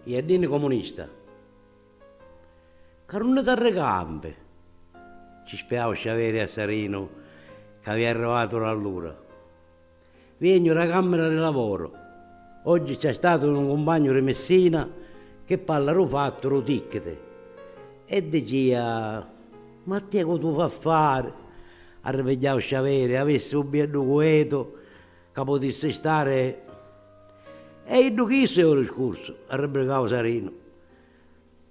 E a ddi comunista. Ca nun carricampi! Ci spiau sciaveri a Sarinu ca avia arrivatu l'allura. Viegnu ra cammira ri lavoru. Oggi c'è statu un cumpagnu ri Messina chi parla ru fattu ru tickiti e dicia. Ma tia cu tu fa fari? arripigghiau Sciaveri, avissi u bieddu cuetu ca putissi stari E iddu chissu è u discursu, arribrigau Sarinu,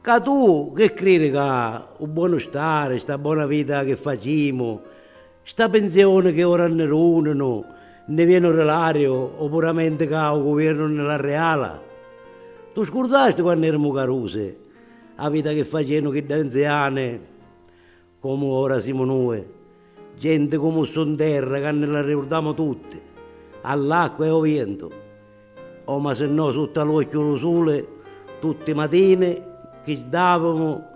ca tu chi cridi ca u bonu stari, sta bona vita chi facimu, sta pinzioni chi ora nni duninu, nni vieni u rilariu o puramenti ca u guviernu nni l'arriala? Tu scurdasti quannu erimu carusi A vita chi facennu chiddi anziani, comu ora simu nui, genti comu stu 'nterra ca nni l'arriurdamu tutti, all'acqua e 'o vientu, o masinnò sutta a l'uocchiu d'u suli tutti i matini chi jdavimu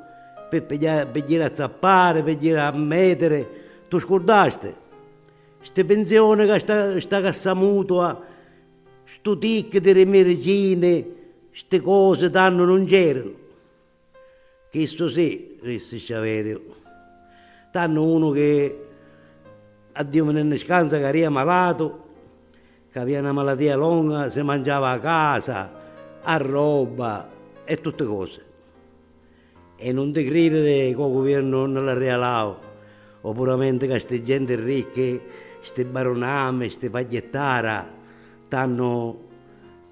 pi pigliari, pi jiri a zappari, pi jiri a metiri, t'u scurdasti? Sti pinzioni ca sta, sta cassa mutua Stu tic di ri miricini sti cosi tantu nun c'eranu. Chistu sì, rissi Sciaveriu. Tantu unu chi a Diu mi ni nni scanza ca ria malatu, c'avia na malatia longa si manciava a casa, a robba e tutti cosi. E nun ti cridiri ca u guviernu nun la rialau, o puramenti ca sti genti ricchi, sti barunami, sti pagghittara, t'hannu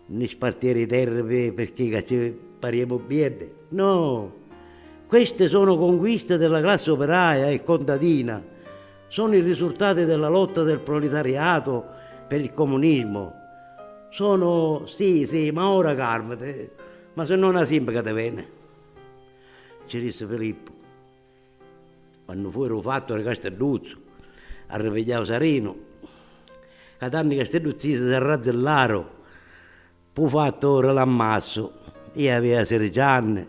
nni spartiri i terri pi pirchì ca ci pariemu bieddi. No! Questi sono conquisti di la classi opiraia e contadina, sono i risurtati di la lotta del proletariato per il comunismo, sono, sì, sì, ma ora carmiti, ma si no na simpica ti veni. Ci dissi Filippu, quannu fui ru fattu ri Castedduzzu, arripigghiau Sarinu, ca tanti castedduzzisi s'arrazzillaru p'u fattu ri l'ammassu. Ia avia sirici anni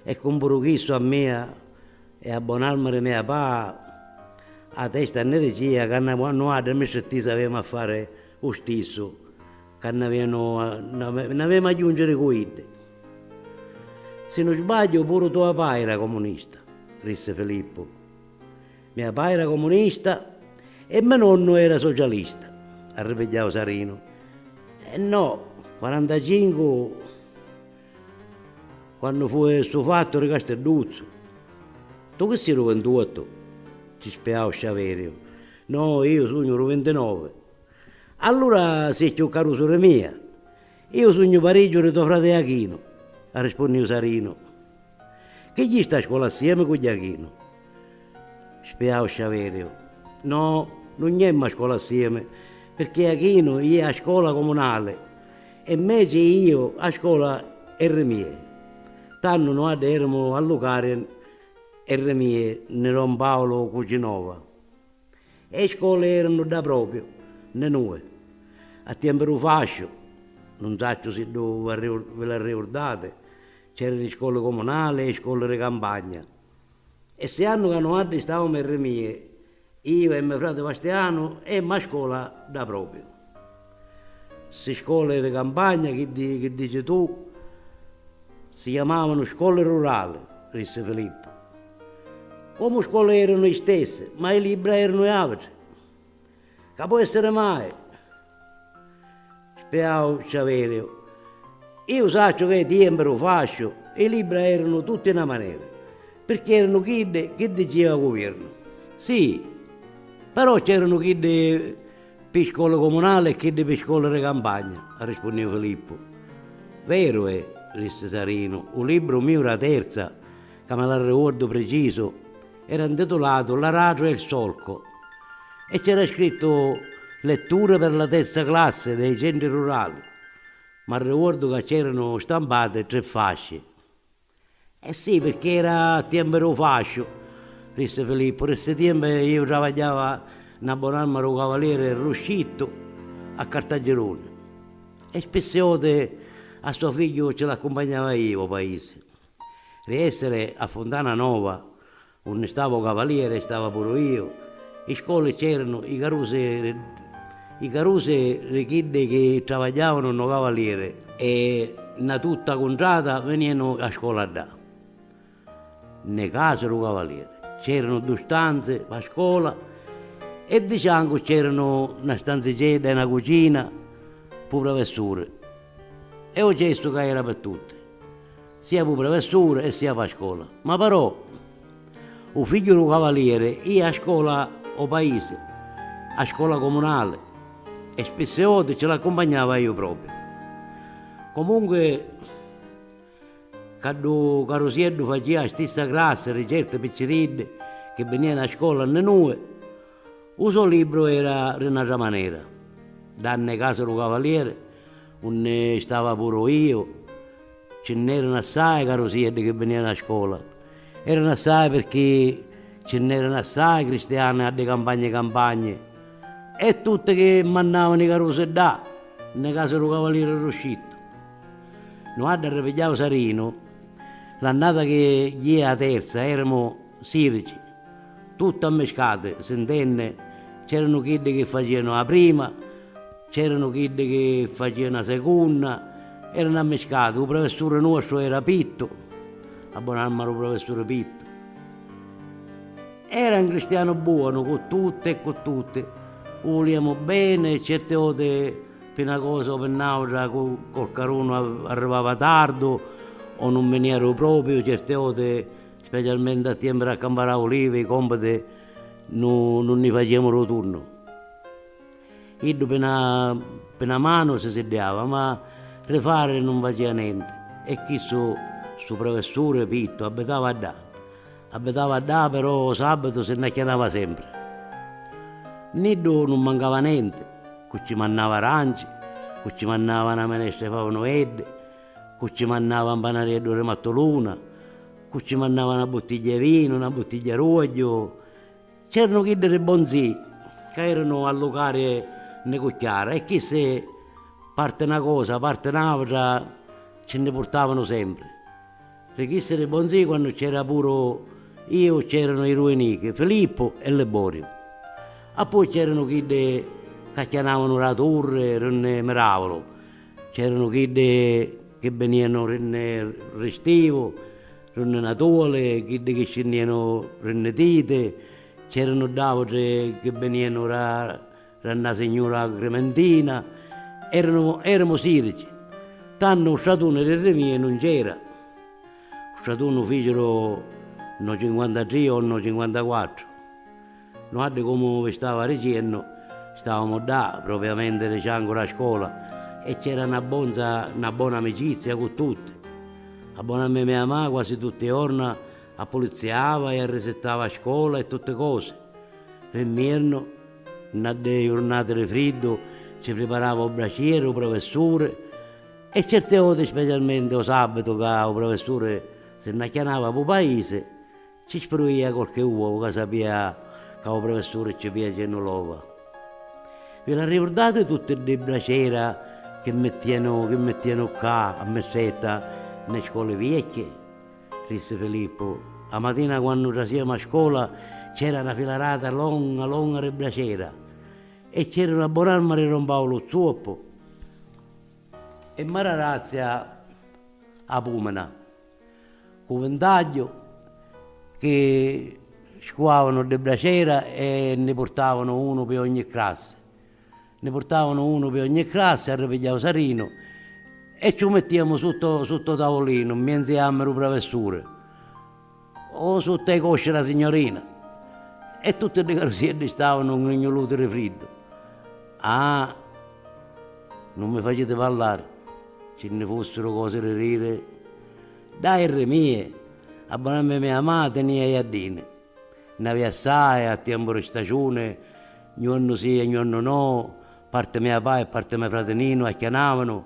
e cu puru chissu a mia e a bon'arma ri mia papà, a testa nni dicia ca na nuadda mi strittisi aviemu a fari U stissu ca n'avìanu a. N'avemu a jùnciri cu iddi. Si nun sbagghiu puru tua pai era comunista, rissi Filippu. Mia pai era comunista e me nonnu era socialista, arripigghiau Sarinu. E no, quarantacincu quannu fui stu fattu ri Castidduzzu. Tu chi si ru ventuottu? ci spiau Sciaveriu. No, iu sugnu ru vintinovi. Allura si è cchiù carusu ri mia. Iu sugnu parigghiu ri to frati Jachinu, arrispunniu Sarinu. Chi gghì sta a scola assiemi cu Jachinu? spiau Sciaveriu. No, nun gnèmmu a scola assiemi, pirchì Jachinu jìa a scola comunali e mmeci jìu a scola e ri mie. Tannu nuaddi èremu a lu Carien e ri mie nni don Paolo Cucinova. E scoli erunu dda propriu nni nui, a tiempi du fasciu, nun sacciu si ddu vi l'arriurdati, c'eranu li scoli comunali e i scoli ri campagna. E ssi annu ca nuaddi staumu erri mie, iu e me frati Vastianu emmu a scola dda propriu. Ssi scoli ri campagna, chiddi chi dici tu, si chiamavanu scoli rurali, rissi Filippu. Comu scola eranu i stessi, ma i libbra eranu i autri. Ca po' essiri mai? spiau Ciaveriu. Iu sacciu ca i tiempi du fasciu i libbra eranu tutti na manera, pirchì eranu chiddi chi diciva u guviernu. Si, però c'eranu chiddi pi scola comunali e chiddi pi scola di campagna, arrispunniu Filippu. Veru è, rissi Sarinu, u libbru miu d'a terza ca me l'arricuordu precisu, era 'ntitulatu L'aratru e il solco e c'era scrittu Letture per la terza classe dei centri rurali. M'arricuordu ca c'eranu stampati tri fasci. Eh sì, pirchì era a tiempi dû fasciu, rissi Filippu. Ri ssi tiempi iu travagghiava na bon'arma dû cavalieri Ruscittu a Cartagiruni e spissi oti a so figghiu ci l'accumpagnava iu ô paisi. Ri essere a Funtana Nova, unni stava u Cavaliere, stava puru iu. I scoli c'eranu i carusi ri i carusi ri chiddi chi travagghiavanu nno Cavaliere e nna tutta cuntrata venianu a scola ddà. Nne case d'u Cavaliere c'eranu du stanzi p'a scola e di ciancu c'eranu na stanzicedda e na cucina p'u prevessuri e u cestu ca era pi tutti. Sia pu prevessuri e sia pa scola. Ma però u figghiu du cavalieri ia a scola o paisi, a scola comunali, e spisse oti ci l'accumpagnava iu propriu. Comunqui ca du carusieddu facia a stissa classi di certi picciriddi chi binianu a scola nni nui, u so libru era di n'atra manera. Dda nni casa du cavalieri, unni stava puru iu, Ci nn'eranu assai carusieddi chi vinìanu a scola. Eranu assai pirchì ci nn'eranu assai cristiani ddi campagni campagni e tutti chi mannavanu i carusi ddà nni casa dû cavalieri Ruscittu. Nuadda arripigghiau Sarinu, l'annata chi jìa a terza eramu sirici, tutti ammiscati, sintenni, c'eranu chiddi chi facìanu a prima, C'eranu chiddi chi facìanu 'a secunna, eranu ammiscati, 'u prevesturi nuostru era Pittu, a bon'anima d'u prevesturi Pittu, era 'n cristianu buonu cu tutti e cu tutti, 'u vulìamu beni e certi voti pi 'na cosa o pi n'àutra cu qualcarunu arrivava tardu o nun vinìa d'u propiu, certi voti, specialmenti a tiempu d'accampari 'a ulivi, i compiti nun ni facìamu d'u tunnu. Iddu pi na pi na manu si siddiava, ma ri fari nun facia nenti, e chissu stu prevessuri pittu abbitava ddà. Abbitava ddà però o sàbbitu si nn'acchianava sempri. Niddu nun mancava nenti, cu ci mannava aranci, cu ci mannava na menesta i favi nueddi, cu ci mannava n panarieddu ri mattuluna, cu ci mannava na buttigghia i vinu, na buttigghia ruagghiu, C'eranu chiddi ri Bonzì ca eranu a lucari nni cucchiara e chissi parti na cosa, parti n'autra ci nni purtavanu sempri. Ri chissi ri Bonzì quannu c'era puru iu c'eranu i dui nichi, Filippu e Liboriu. Appoi c'eranu chiddi ca chianavanu ra turri ri nni miravanu. C'eranu chiddi chi binianu ri nni Ristivu, ri nni Natuli, chiddi chi scinnianu ri nni Titi, c'eranu dd'autri chi binianu ra ra nna signura Agrimentina. Eranu eramu sirici. Tannu u stratuni ri ri mia nun c'era. U stratuni u ficiru nno cinquantatri o nno cinquantaquattru. Nuaddi comu vi stava ricennu stavamu ddà propriamenti di ciancu d'a scola e c'era na bonza na bona amicizia cu tutti. A bona me mia ma quasi tutti jorna appulizziava e arrisittava a scola e tutti cosi. Ri mmiernu, nna ddi jurnati di friddu ci priparava u bracieri u professuri e certi oti specialmenti o sabitu ca u professuri si nn'acchianava pu paisi Ci spruia qualche uovu ca sapia ca u prefessuri ci fiacennu l'ova. Vi l'arricurdati tutti ddi bracera chi mittianu chi mittianu ccà a Missetta nni scoli viecchi? rissi Filippu. A matina quannu trasiamu a scola c'era na filarata longa longa di bracera e c'eranu a bon'arma di don Paulu zuoppu e Mararazia a pumina. Cu vintagghiu chi scuavanu ddi bracera e nni purtavanu unu pi ogni crassi. Nni purtavanu unu pi ogni crassi, arripigghiau Sarinu e cci u mittiamu sutta sutta u tavulinu, mmienzi ammi du pravessuri o sutta i cosci da signorina e tutti ddi carusieddi stavanu ngrignuluti di friddu. Ah! Nun mi faciti parlari. Ci nni fussiru cosi ri riri. Dai ri mie! A bona me mia ma tenia i jaddini. Nn'avia assai, a tiempu ri staciuni, gnuannu si e gnuannu no, parti mia pa e parti me frati Ninu acchianavanu,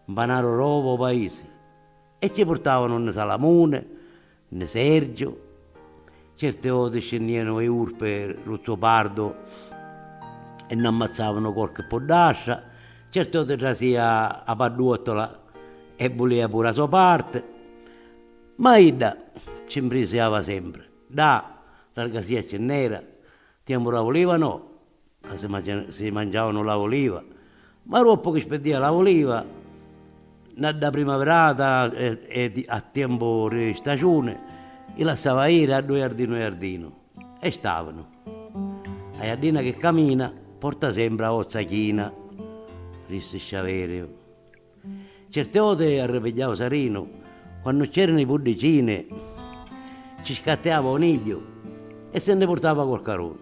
'mpanaru roba o paisi. E ci purtavanu nni salamuni, Nni Sergiu. Certi voti scinnianu i urpi ru zopardu e nni ammazzavanu quarchi puddastra, certi voti trasia a padduottola e vulia puru a so parti. Ma idda ci mprisiava sempri. Dah! Largasia cinnera! Ti amurau liva no! Ca si mancianu, si manciavanu la uliva, ma ruoppu chi speddia la uliva, na dda primavirata e e a tiempu ri staciuni, i lassava iri a ddu jardinu jardinu e stavanu. A jaddina chi camina, porta sempri a ozza china, rissi Sciaveriu. Certi oti arripigghiau Sarinu, quannu c'erinu i puddicini, ci scattiava un igghiu e si nni purtava quarcarunu.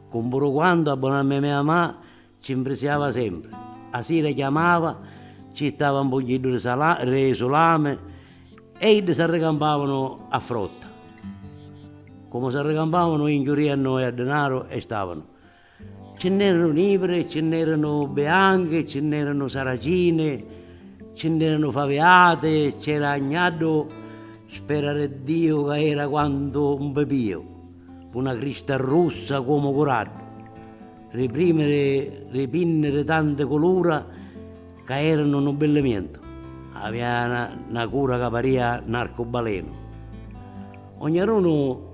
Cu puru quantu a bon'anni mia ma ci nfrisiava sempri, a sira chiamava, ci jittava un pugghiddhu di sala, di sulami e iddi s'arricampavanu a frotta. Comu s'arricampavanu, inchiuria a noi a dinaru e stavanu. Ci nn'eranu nivri, ci nn'eranu bianchi, ci nn'eranu saracini, ci nn'eranu faviati, c'era agnaddu sperareddiu ca era quantu un pipiu, cu na crista russa comu curaddu, ri primi ri pinni ri tanti culura ca eranu nu billimientu, avia na cura ca paria n'arcubalenu. Ognarunu.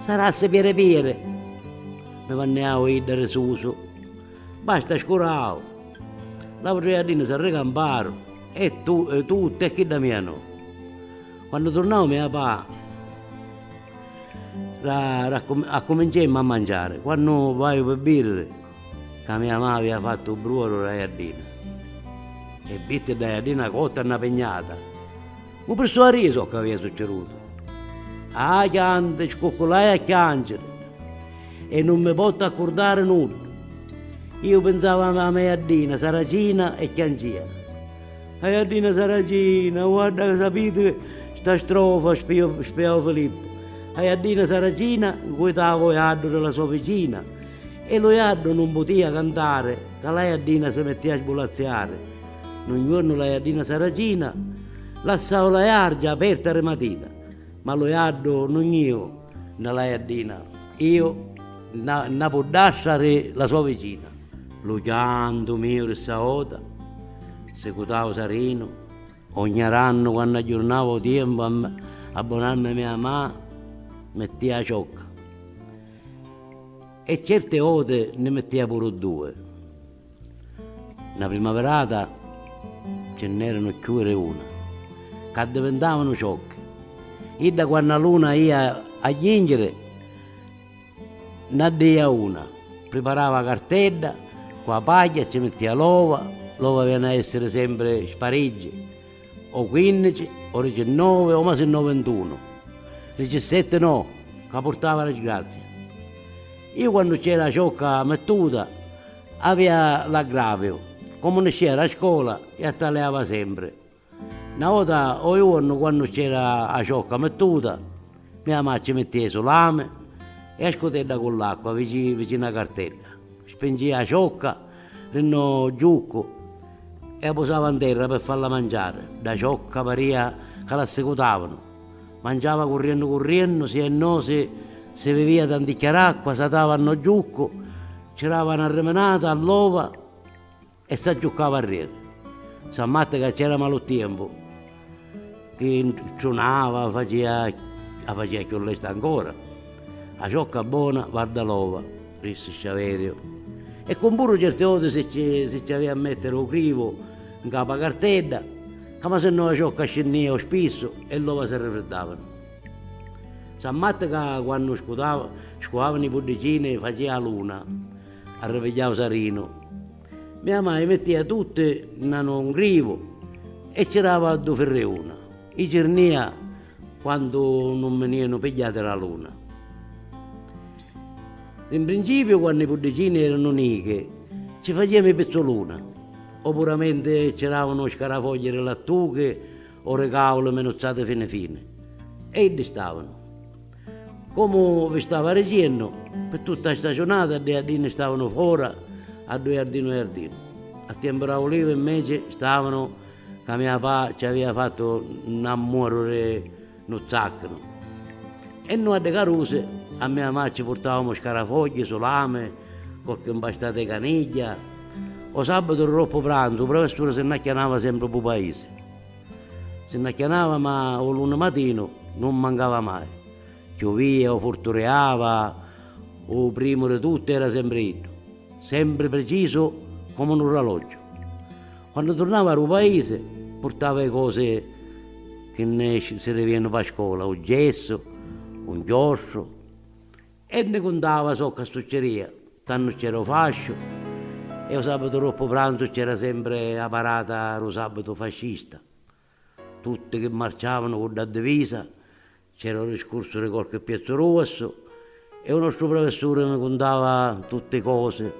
Sarassi piri piri! mi vanniau idda risusu. Basta scurau! L'autri jardini s'arricamparu e tu, e tutti e chidda mia no! Quannu turnau mia pa. Ra, ra, accuminciemmu a manciari, quannu vaiu pi vidiri ca mia ma avia fattu u bruoru ra jardina e vitti dda jardina cotta e na pignata. U pristu arrisu o c'avia succerutu. Ah chianti, scucculai a chianciri e nun mi pottu accurdari nuddu. Iu pinsava a la me jaddina saracina e chiancia. A jaddina saracina, guarda ca sapiti sta strofa, spiau Filippu. A jaddina saracina ncuitava u jaddu di la so vicina e lu jaddu nun putia cantari ca la jaddina si mittia a sbulazziari. Nu ngiornu la jaddina saracina lassau la jargia aperta ri matina, ma lu jaddu nun jìu nna la jaddina, jìu nna nna puddastra ri la so vicina. Lu chiantu miu ri ssa jota sicutau sarinu ogni arannu quannu agghiurnava u tiempu abbonannu mia ma mettia a ciocca e certe jote nni mettia puru due. Na primaverata ce nn'eranu cchiù i reuna, c'addivintavanu ciocchi. Idda quannu 'a luna ia a jingiri, nn'addìa una, priparava 'a cartedda cu 'a pagghia, ci mittìa l'ova, l'ova avìanu a èssiri sempri spariggi, o quinnici, o dicinnovi, o masinnò vintunu, dicissetti no, ca purtava disgrazia. Iu quannu cc'era 'a ciocca mittuta. Avia l'aggraviu, comu niscìa da scola, ia taliava sempri. Na vota o iuornu quannu c'era a ciocca mittuta, mia ma ci mittìa su lami e a scutedda cu l'acqua vici vici na cartedda, spingìa a ciocca ri no giuccu e a pusava nterra pi falla manciari, da ciocca parìa ca l'assicutavanu. Mangiava curriennu curriennu, si e no si si vivia tanticchia d'acqua, s'atava a no giuccu, ci dava na riminata a l'ova e s'aggiuccava arrieri. Sa matta ca c'era malu tiempu, chi trunava, facia, a facia cchiù lesta ancora. A ciocca bona varda l'ova, rissi Sciaveriu. E cun puru certi oti si ci, si ci avia a mettere u crivu 'ncapa cartedda. Ca ma sennò a ciocca scinnìa u spissu e l'ova si rifriddavanu. San Matti ca quannu scutava, scuavanu i puddicini facìa a luna, arrivigliau u sarinu. Mia mai mittìa tutti nna nu ngrivu e ci dava du firriuna, i cirnìa quandu nun minianu pigghiati ra luna. Ri mprincipiu quannu i puddicini eranu nichi, ci facìamu i pizzuluna, Opuramenti c'eravanu scarafogghie di lattuchi o di cauli minuzzati fini fini e iddi stavanu. Comu vi stava ricennu, pi tutta a staciunata ddi jardini stavanu fora a ddu jardinu jardinu. A tiempu d'a ulivi, inveci, stavanu ca mia pa ci avia fattu n'ammuaru di. Nu zacchinu e nu addi carusi a mia ma ci purtavamu scarafogghie, sulami, qualche mpastata 'i canigghia. O sabatu roppu pranzu u prevessuri si nn'acchianava sempri p'u paisi. Si nn'acchianava ma u luni matinu nun mancava mai. Chiuvia o furturiava, u primu di tutti era sempri iddu, sempri precisu comu nu raloggiu. Quannu turnava ru paisi purtava i cosi chi nni sirrivianu pa scola, u gessu, u nchiostru e nni cuntava soccu a stucciria, tannu cc'era u fasciu e u sabbatu doppu pranzu cc'era sempri a parata ru sabbatu fascista, Tutti chi marciavanu cu dda divisa, c'era lu discursu di qualchi piezzu ruassu e u nostru prefessuri ni cuntava tutti cosi.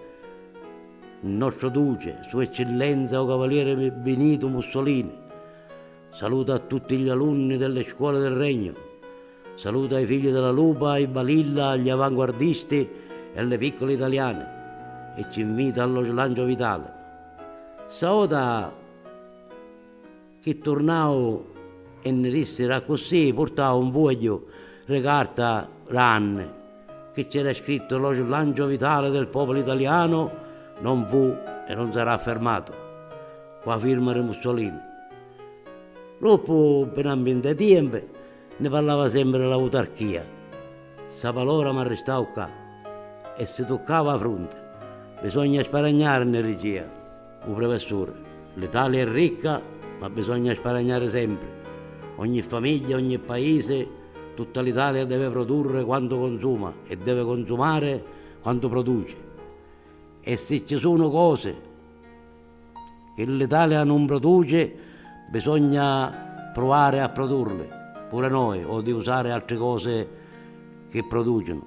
Nostro Duce, Sua Eccillenza u Cavalieri Binitu Mussolini, saluta a tutti gli alunni delle scuole del Regno, saluta i figli della Lupa, i Balilla, gli avanguardisti e li piccoli italiani e ci invita allo slancio vitale. Staota. Chi turnau e nni dissi ra accussì purtau un fuegghiu ri carta ranni chi c'era scrittu lo slancio vitale del popolo italiano non fu e non sarà fermato cu a firma ri Mussolini. Doppu pi na mbinta e tiempi nni parlava sempri ri l'autarchia. Ssa palora m'arristau ccà e si tuccava a frunti. Bisogna sparagnari nni ricia. U prefessuri, L'Italia è ricca, ma bisogna sparagnari sempri. Ogni famiglia, ogni paisi, tutta l'Italia deve produrri quantu consuma e deve consumari quantu produci. E si ci sunu cosi chi l'Italia nun produci, bisogna pruvari a produrli pure noi o di usari altri cosi chi producinu.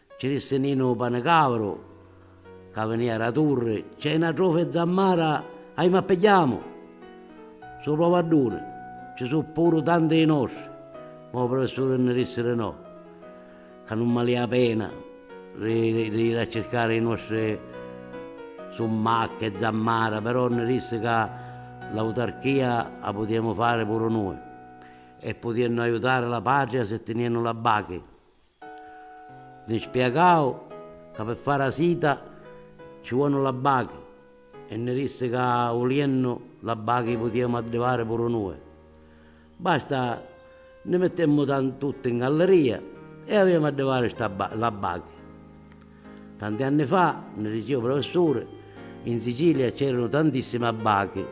Ci dissi Ninu Panicavru ca vinìa ra Turri, c'è na trofa 'i zammara aimu a pigghiamu! Su Plovadduni, ci su' puru tanti 'i nostri, ma u prufessuri nni dissi di no, ca nun malia 'a pena ri jiri a circari 'i nostri summacchi e zammara, però nni dissi ca l'autarchia 'a putiemu fari puru nui, e putiennu aiutari la patria si tiniennu la bachi. Li spiegau ca pi fari a sita ci vuonu la bachi e nni rissi ca uliennu la bachi putiemu addivari puru nui. Basta nni mittemmu tan tutti 'n galleria e aviemu addivari sta la bachi. Tanti anni fa, nni ricia u professuri, in Sicilia c'eranu tantissimi abbachi.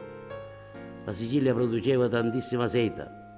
La Sicilia produceva tantissima seta.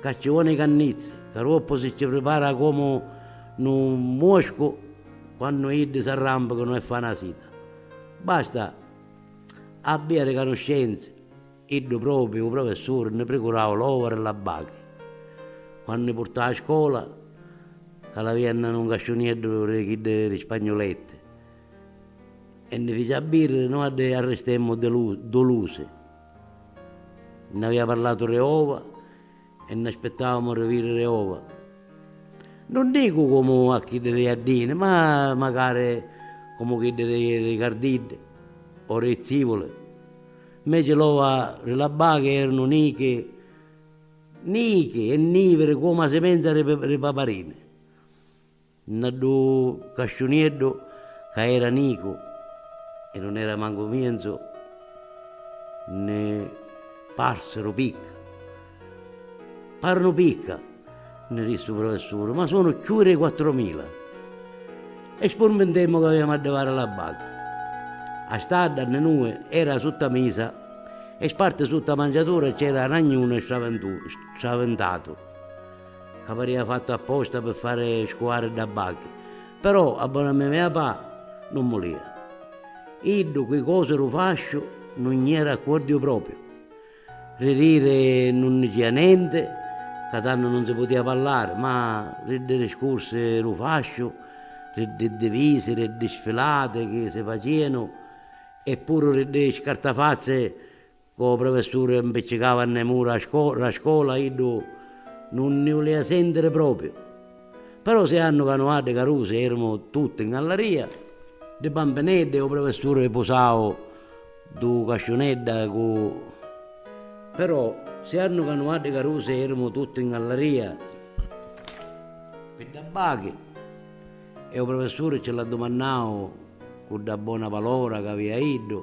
Ca ci voni cannizzi, ca roppu si ci pripara comu nu muscu quannu iddi s'arrampicanu e fana sita. Basta abbiari canuscenzi, iddu propriu u professuri nni pricurau l'ovaru e l'abbachi, quannu i purtau a scola, ca l'avia nna nu ngasciunieddu di chiddi di spagnuletti, e nni fici abbiri, nui addi arristemmu dulusi, Nn'avia parlatu re ova e nn'aspettavamu re viri re ova. Nun dicu comu a chiddi re jaddini, ma macari comu chiddi re re cardiddi o re zivuli. Mmeci l'ova re la bachi eranu nichi, nichi e niviri comu a simenza re paparini. Nta ddu casciunieddu ca era nicu e nun era mancu mienzu nni parsiru picca. Parunu picca! nni dissi u prufessuri, ma sunu cchiui dei quattromila! E spurmintemmu ca avemu a divari la baga. A stadda nni nui era sutta misa e sparti sutta mangiatura c'era a nagnunu e stravintatu. Ca paria fattu apposta pi fari scuari dda bachi. Però a bona mia mia pa nun mulia. Iddu cu i cosi ru fasciu nun nni era accuordiu propriu. Ri riri nun nni cia nenti, ca tannu nun si putia pallari, ma ri ddi riscursi ru fasciu, ri ddi divisi, ri ddi sfilati chi si facianu e puru ri ddi scartafazzi, Cu u prufessuri mpiccicava nni mura ra scola iddu nun nni ulia sentiri propriu. Però si annu ca nuaddi carusi erimu tutti in gallaria, ddi bampineddi, u prufessuri pusau du casciunedda cu Però si annu ca nuaddi carusi erimu tutti in gallaria, pi dda bachi, e u prufessuri ci l'addumannau cu dda bona palora ca avia iddu,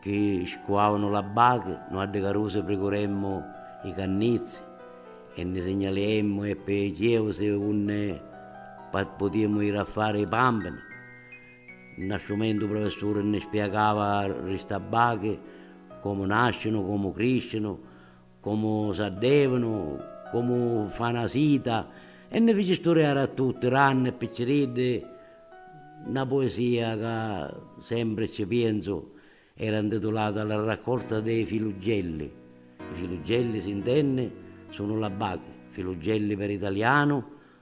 Chi scuavanu l'abbachi, nu addi carusi pricuremmu i cannizzi e nni signaliemmu e pi chieusi unni putiemu iri a fari i pampini. Nna stu mentu u prufessuri nni spiegava ri st'abbachi comu nascinu, comu criscinu, comu s'addevunu, comu fa na sita, e nni fici sturiari a tutti, ranni e picciriddi, na puesia ca sempri cci pienzu era ntitulata La raccolta dei filuggelli, i filuggelli, si ntenni, sunu l'abbati, filuggelli per italianu,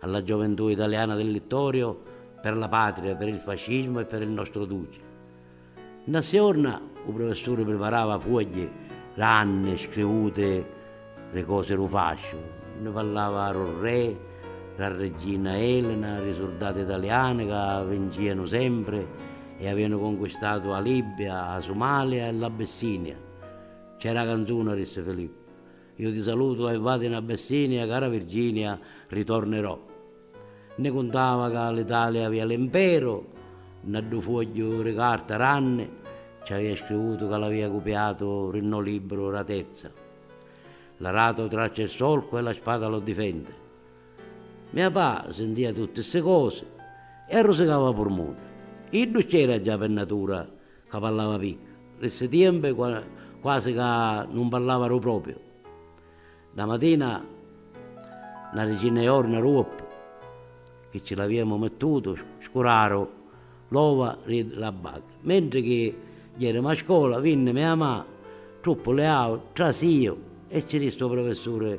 a la gioventù italiana del Littorio per la patria, per il fascismo e per il nostro Duce. Nta sti jorna u professuri priparava fuogli ranni scrivuti ri cosi ru fasciu, nni parlava ru Re, ra Reggina Elena, ri surdati italiani ca vincìanu sempri e avìanu conquistatu a Libbia, a Sumalia e l'Abissinia. C'è ra canzuna, rissi Filippu, Iu ti salutu e vadi na bessinia cara Virginia ritornerò nni cuntava ca l'Italia avia l'imperu nna ddu fuogghiu ri carta ranni ci avia scrivutu ca l'avia cupiatu ri no libru ra terza l'arato traccia il solco e la spada lo difende mia pa sintia tutti ssi cosi e arrusicava purmuni iddu c'era già pi natura Ca parlava picca. Ri ssi tiempi quasi ca nun parlava ru propiu. Na matina, na dicinna i orna ru uoppu chi ci l'aviemu mittutu scuraru l'ova ri la baca. Mentri chi jerimu a scola, vinni mia ma, truppu leau, trasiu e ci dissi u professuri.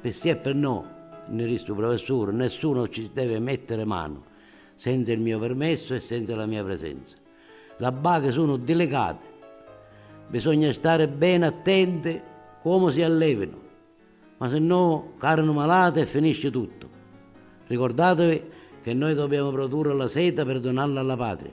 Pi si e pi no, nni ristu prufessuri, nessuno ci devi mettiri manu senza il mio permesso e senza la mia presenza. La baghi sunu dilicati, bisogna stari beni attenti comu si allevinu, ma si no carinu malati e finisci tuttu. Ricordativi che noi dobbiamo produrre la seta per donarla alla patria.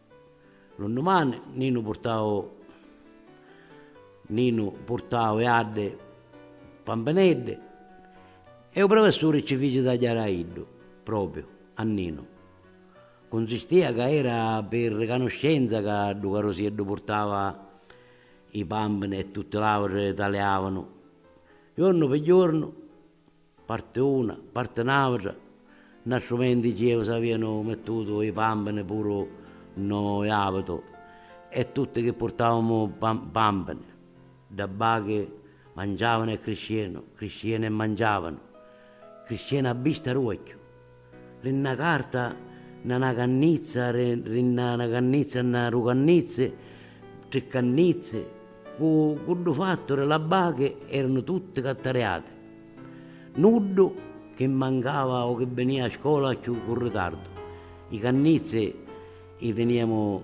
Lu nnumani Ninu purtau Ninu purtau e addi pampineddi e u prefessuri ci fici tagghiari a iddu, propriu a Ninu. Cunzistia ca era pi ricanuscenza ca ddu carusieddu purtava i pampini e tutti l'autri taliavanu, jornu pi jornu, Parti una, parti n'autra, na strumenti chi eu s'avianu mettutu i pampini puru no iavitu e tutti chi purtavamu pampini, dda bachi mangiavanu e criscienu, criscienu e mangiavanu, criscienu a bista ruocchiu. Ri nna carta nna na cannizza ri ri nna na cannizza nna du cannizzi tri cannizzi cu cu ddu fattu ri la bachi eranu tutti cattariati. Nuddu chi mancava o chi binia a scola cchiù cu ritardu. I cannizzi i tiniamu.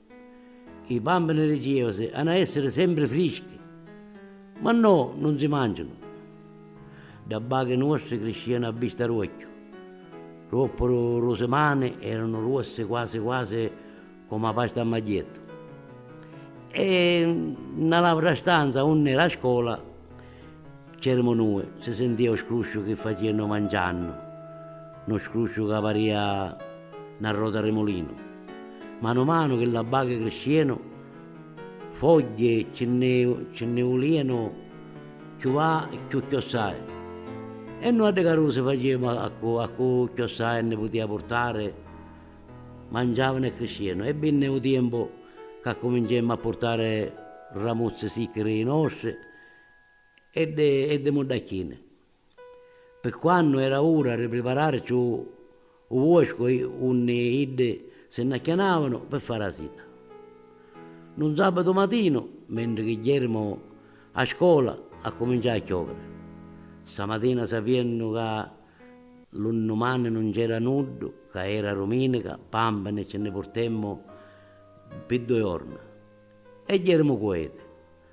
I bambini di Chievasi hana essiri sempri frischi, ma no, nun si mancianu. Dda bachi nuostri criscianu a vista d'uocchiu, ruoppuru lu simani eranu ruossi quasi quasi comu a pasta a magghiettu. E nna l'autra stanza unni era a scola. C'erimu nui, si sintìa u scrusciu chi facìanu manciannu, nu scrusciu ca parìa na rota ri mulinu. Manu manu chi l'abbaghi criscìanu, fogghi ci nni ci nni vulìanu cchiù va e cchiù chiossai. E nui a ddi carusi facìamu a cu a cu chiossai nni putìa purtari, manciavanu e criscìanu. E vinni u tiempu c'accuminciemmu a purtari ramuzzi sicchi ri i nostri, e dde e dde muddacchini. Pi quannu era ura ri pripararci u u vuoscu i unni iddi si nn'acchianavanu pi fari a sita. Nu nzàbbatu matinu, mentri chi jèremu a scola, accuminciau a chioviri. Ssa matina sapiennu ca lu nnumani nun nc'era nuddu, ca era rumìnica, pàmpini ci nni purtemmu pi dui jorna e jèremu cu eti.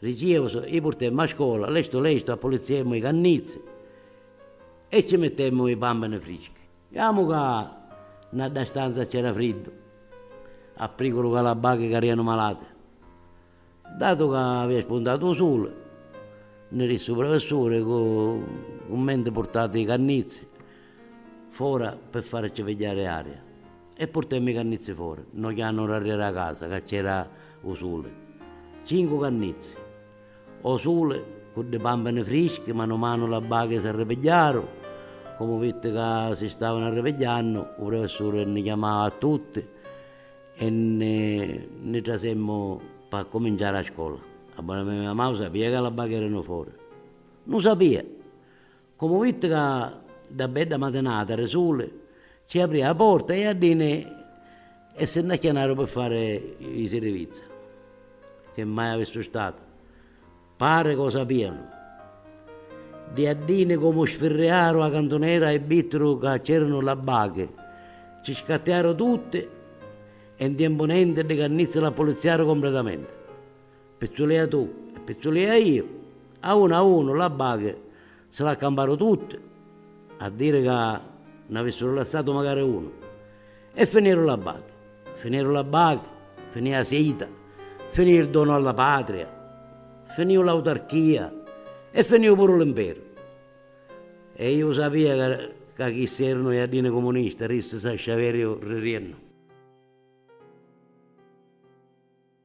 Rijimus, i purtemmu a scola, lestu lestu appulizziemmu i cannizzi e ci mittemmu i pammini frischi. Iamu ca na dda stanza c'era friddu, a priculu ca l'abbaghi carianu malati. Datu ca avia spuntatu u suli, nni rissi u prefessuri cu cummenti purtati i cannizzi fora pi farici pigghiari aria. E purtemmi i cannizzi fori. No chianu r'arreri a casa ca c'era u suli. Cincu cannizzi. O suli, cu ddi pampini frischi, manu manu la bachi s'arripigghiaru. Comu vitti ca si stavanu arripigghiannu, u prefessuri nni chiamau a tutti e nni nni trasemmu p'accuminciari a scola. A bona mia mia mamau sapia ca la bachi eranu fori? Nu sapia! Comu vitti ca dda bedda matinata ri suli ci aprì a porta i jaddini e si nn'acchianaru pi fari i sirivizza chi mai avissu statu, pari ca u sapianu. Ddi jaddini comu sfirriaru a cantunera i vittiru ca c'eranu labbachi, ci scattiaru tutti e 'n tiempu nenti ddi cannizzi l'appuliziaru compritamenti. Pizzulìa tu e pizzulìa iu, a unu a unu la baghi si l'accamparu tutti, a diri ca n'avìssiru lassatu macari unu. E finìru la baghi. Finìru la baghi, finì 'a sita, finì il donu alla patria, finìu l'autarchìa e finìu puru l'imperu. E iu sapìa ca chissi erunu jaddini cumunisti, rissi Sasciaveriu ririennu.